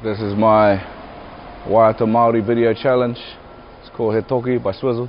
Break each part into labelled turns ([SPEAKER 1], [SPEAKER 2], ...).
[SPEAKER 1] This is my waiata Māori video challenge. It's called He Toki by Swizzle.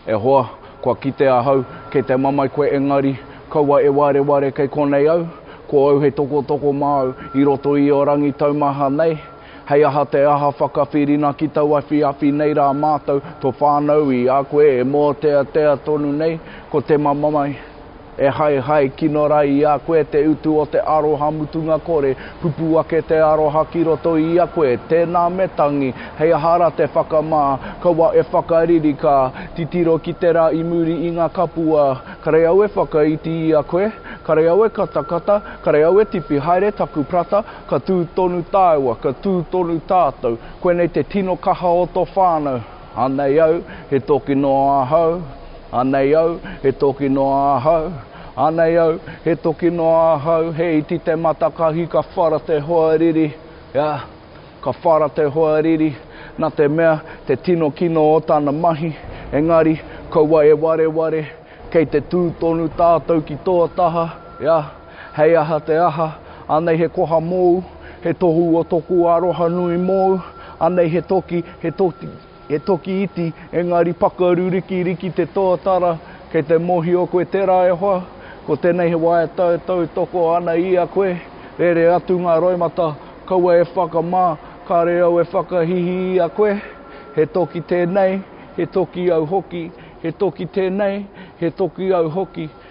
[SPEAKER 1] E hoa, kua kite ahau, kei te mamae koe engari, kaua e wareware kei konei au, ko au hei tokotoko māu i roto i o rangi taumaha nei, hei aha te aha whakawhirina ki tau awhiawhi nei rā mātou, to whānau i a koe e mōteatea tonu nei, ko te mamamai. E haehae kino ra i a koe te utu o te aroha mutunga kore, pupu ake te aroha ki roto i a koe, tēnā me tangi, hei aha ra te whakamā, kaua e whakariri ka, titiro ki te ra i muri i nga kapua, kare au e whakaiti i a koe, kare au e katakata, kare au e tipi haere taku prata, ka tu tonu taua, ka tu tonu tatou, koinei te tino kaha o to whanau. Anei au, he toki noa ahau, Anei au, he toki noa ahau, Anei au, he toki noa ahau, He iti te matakahi ka whara te hoariri, yeah, Ka whara te hoariri, na te mea, te tino kino o tana mahi, Engari, kaua e wareware, kei te tū tonu tātou ki tō taha, yeah, Hei aha te aha, anei he koha mōu, he tohu o toku aroha nui mōu, anei he toki, he toki, he toki iti, engari pakaru rikiriki te tōtara, kei te mōhio koe tērā e hoa, ko tenei he wā e tautautoko ana i a koe, rere atu ngā roimata, kaua e whakamā, kare au e whakahihi i a koe, he toki tenei, he toki au hoki, he toki tenei, he toki au hoki.